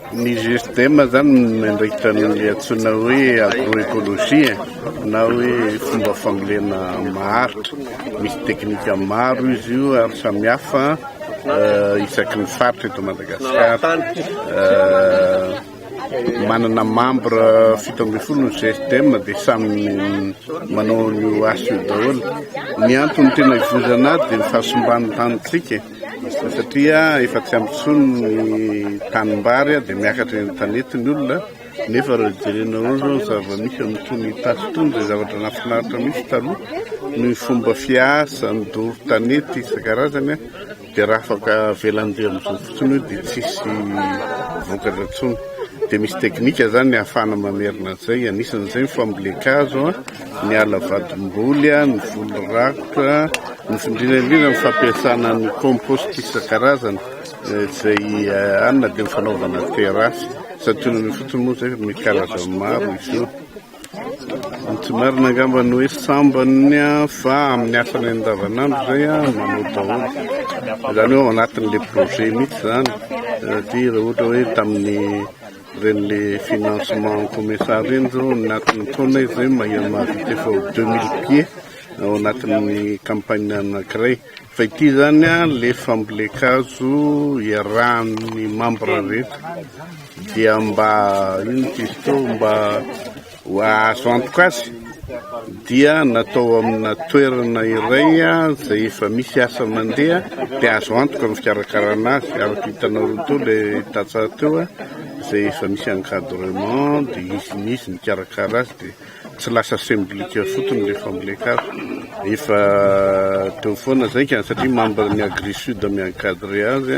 Ny GSDM zany miandraikitra ny antsoina hoe agroecologie na hoe fomba fambolena maharitra. Misy teknika maro izy io ary samihafa euh, isaky ny faritra eto Madagasikara. Euh, manana membre fito ambin'ny folo ny GSDM dia samy manao ny aso io daholo. Ny antony tena ivozana azy dia ny fahasimban'ny tanintsika. satria efa tsy ampy intsony ny tanimbary dia miakatra eny an-tanety ny olona nefa raha jerena eo izao ny zava-misy amin'itony Itasy itony dia zavatra nahafinaritra mihitsy taloha ny fomba fiasa, ny doro tanety isan-karazany an, dia raha afaka avelany be amin'izao fotsiny io dia tsisy vokatra intsony, dia misy teknika izany ahafahana mamerina an'izay, anisan'izay ny fambolen-kazo an. ny ala vadim-boly, ny voly rakotra, ny indrindra indrindra ny fampiasana ny compost isan-karazany izay any na dia ny fanaovana terasy satria ny fotsiny moa izay misy karazany maro izy io. Ny tsy marina angamba ny hoe sambany fa amin'ny asany andavanandro izay manao daholo. Izany hoe ao anatin'ilay projet mihitsy izany satria raha ohatra hoe tamin'ny Reny le financement en comesa reny zao anatin'ny taona izy zay mahay mahavita efa ho deux mille pieds ao anatin'ny campagne anankiray. Fa ity zany a le fambolen-kazo iarahan'ny membre rehetra dia mba ino izy teo mba Azo antoka azy dia natao amina toerana iray izay efa misy asa mandeha dia azo antoka ny fikarakarana azy araka hitanao teo ilay tantsaha teo izay efa misy encadrement dia izy sy izy mikarakara azy dia tsy lasa semblika fotsiny ilay famboleka azy. Efa teo foana izay ka satria membre ny Agri Sud mi-encadrer azy.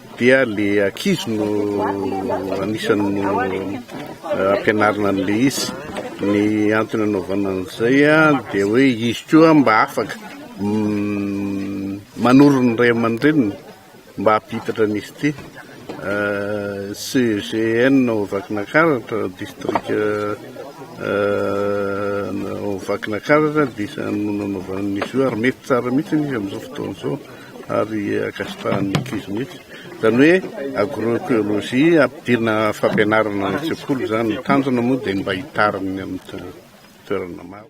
dia le ankizy no anisany no ampianarina an'le izy ny antony anaovana an'izay dia hoe izy koa mba afaka manoro ny ray aman-dreniny mba hampihitatra an'izy ity CEGN ao Vakinakaratra district ao Vakinakaratra dia isan'ny nanaovana an'izy io ary mety tsara mihitsy izy amin'izao fotoana izao ary ankasitrahan'ny ankizy mihitsy. Izany hoe agroecologie ampidirina fampianarana any an-tsekoly izany. Ny tanjona moa dia ny mba hitarin'ny amin'ny toerana maro.